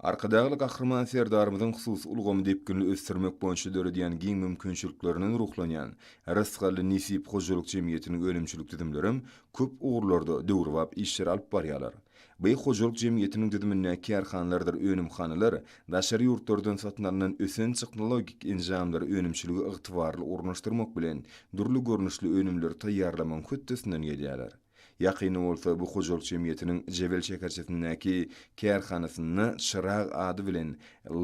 Arkadagly Gahryman Serdarymyzyň hususy ulgamy depginli ösdürmek boýunça döredýän giň mümkinçiliklerinden ruhlanýan Rysgally Nesip hojalyk jemgyýetiniň önümçilik düzümlerem köp ugurlarda döwrebap işleri alyp barýarlar. By hojalyk jemgyýetiniň düzümindäki kärhanalardyr önümhanalar daşary ýurtlardan satyn alnan ösen tehnologik enjamlary önümçilige ygtybarly ornaşdyrmak bilen dürli görnüşli önümleri taýýarlamagyň hötdesinden gelýärler. Ýakynda bolsa bu hojalyk jemgyýetiniň Jebel şäherçesindäki kärhanasynda Çyrag ady bilen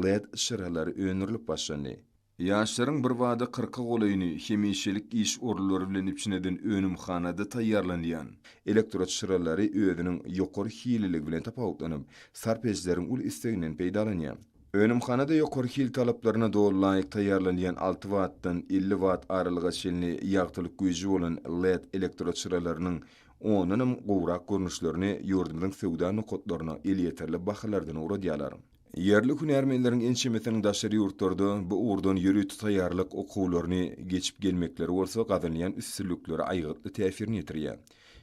led çyralary öndürilip başlandy. Ýaşlaryň birbada kyrka golaýyny hemişelik iş orunlary bilen üpjün eden önümhanada taýýarlanýan elektroçyralary özüniň ýokary hililigi bilen tapawutlanyp, sarp edijileriň uly isleginden peýdalanýar. Önümhanada ýokary hil talaplaryna doly laýyk taýýarlanýan alty wattdan elli watt aralyga çenli ýagtylyk güýji bolan led elektroçyralarynyň ondanam gowrak görnüşlerini ýurdumyzyň söwda nokatlaryna elýeterli bahalardan ugradýarlar. Ýerli hünärmenleriň ençemesiniň daşary ýurtlarda bu ugurdan ýörite taýýarlyk okuwlaryny geçip gelmekleri bolsa gazanylýan üstünliklere aýgytly täsirini ýetirýär.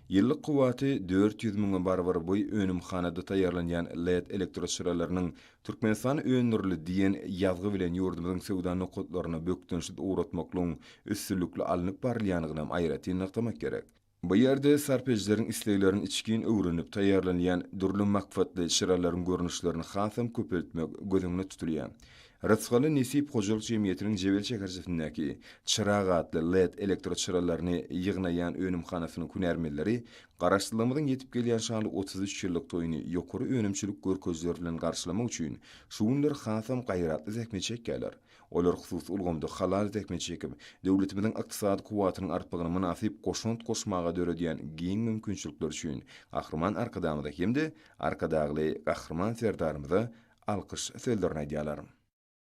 Ýyllyk kuwwaty dört ýüz müňe barabar bu önümhanada taýýarlanýan led elektroçyralarynyň Türkmenistan öndürili diýen ýazgy bilen ýurdumyzyň söwda nokatlaryna bökdençsiz ugratmaklygyň üstünlikli alnyp barylýanygynam aýratyn nygtamak gerek. Bu ýerde sarp edijileriň isleglerini içgin öwrenip taýýarlanýan dürli maksatly çyralaryň görnüşlerini hasam köpeltmek göz öňünde tutulýar. Rysgaly Nesip hojalyk jemgyýetiniň Jebel şäherçesindäki Çyrag atly led elektroçyralaryny ýygnaýan önümhanasynyň hünärmenleri Garaşsyzlygymyzyň ýetip gelýän şanly otuz üç ýyllyk toýuny ýokary önümçilik görkezijileri bilen garşylamak üçin şu günler hasam gaýratly zähmet çekýärler. Olar hususy ulgamda halal zähmet çekip, döwletimiziň ykdysady kuwwatynyň artmagyna mynasyp goşant goşmaga döredýän giň mümkinçilikler üçin Gahryman Arkadagymyza hem-de Arkadagly Gahryman Serdarymyza alkyş sözlerini aýdýarlar.